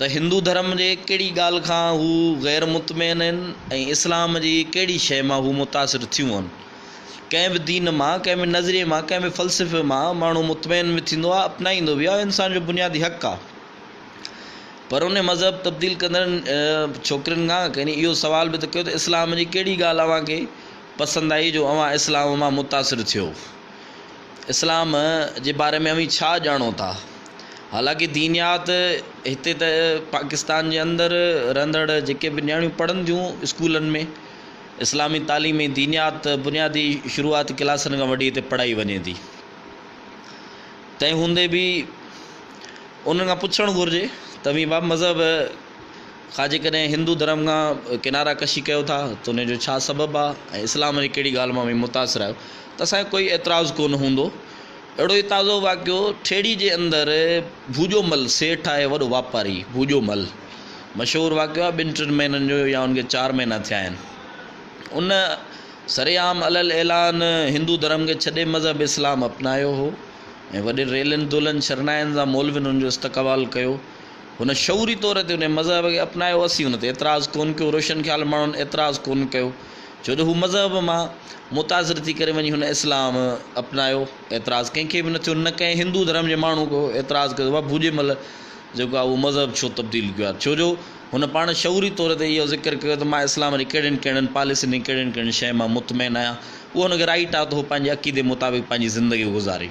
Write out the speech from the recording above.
ته هندو ڌرم جي ڪهڙي ڳالهه کان هو غير مطمئن آهن ۽ اسلام جي ڪهڙي شيء مان هو متاثر ٿيون آهن. ڪنهن به دين مان، ڪنهن به نظريي مان، ڪنهن به فلسفي مان ماڻهو مطمئن به ٿيندو آهي، اپنائيندو به آهي، انسان جو بنيادي حق آهي. پر انهيء مذهب تبديل ڪندڙن ڇوڪرين کان ڪنهن اهو سوال به ته ڪيو ته اسلام جي ڪهڙي ڳالهه اوهان کي پسند آئي جو اوهان اسلام مان متاثر ٿيو؟ اسلام جي باري ۾ اوهين ڇا ڄاڻو ٿا؟ حالانڪه دينيات هتي ته پاڪستان جي اندر رهندڙ جيڪي به نياڻيون پڙهن ٿيون اسڪولن ۾ اسلامي تعليم ۽ دينيات بنيادي شروعاتي ڪلاسن کان وٺي هتي پڙهائي وڃي ٿي تنهن هوندي به انهن کان پڇڻ گهرجي ته اوهين بابا مذهب کان جيڪڏهن هندو ڌرم کان ڪناره ڪشي ڪيو ٿا ته ان جو ڇا سبب آهي ۽ اسلام جي ڪهڙي ڳالهه مان اوهين متاثر آهيو ته اسان کي ڪوئي اعتراض ڪونه هوندو. اهڙو ئي تازو واقعو ٺيڙهي جي اندر ڀوڄو مل سيٺ آهي وڏو واپاري ڀوڄو مل مشهور واقعو آهي ٻن ٽن مهينن جو يا ان کي چار مهينا ٿيا آهن ان سري عام علي الاعلان هندو ڌرم کي ڇڏي مذهب اسلام اپنايو هو ۽ وڏين ريلن دولن شرناين سان مولوين ان جو استقبال ڪيو هن شعوري طور تي انهيء مذهب کي اپنايو، اسين ان تي اعتراض ڪونه ڪيو، روشن خيال ماڻهن اعتراض ڪونه ڪيو، ڇو جو هو مذهب مان متاثر ٿي ڪري وڃي هن اسلام اپنايو، اعتراض ڪنهن کي به نه ٿيو، نه ڪنهن هندو ڌرم جي ماڻهو ڪو اعتراض ڪيو ته واهه ڀوڄي مل جيڪو آهي اهو مذهب ڇو تبديل ڪيو آهي، ڇو جو هن پاڻ شعوري طور تي اهو ذڪر ڪيو ته مان اسلام جي ڪهڙين ڪهڙين پاليسين ۽ ڪهڙين ڪهڙين شين مان مطمئن آهيان، اهو هن کي رائيٽ آهي ته هو پنهنجي عقيدي مطابق پنهنجي زندگي گذاري.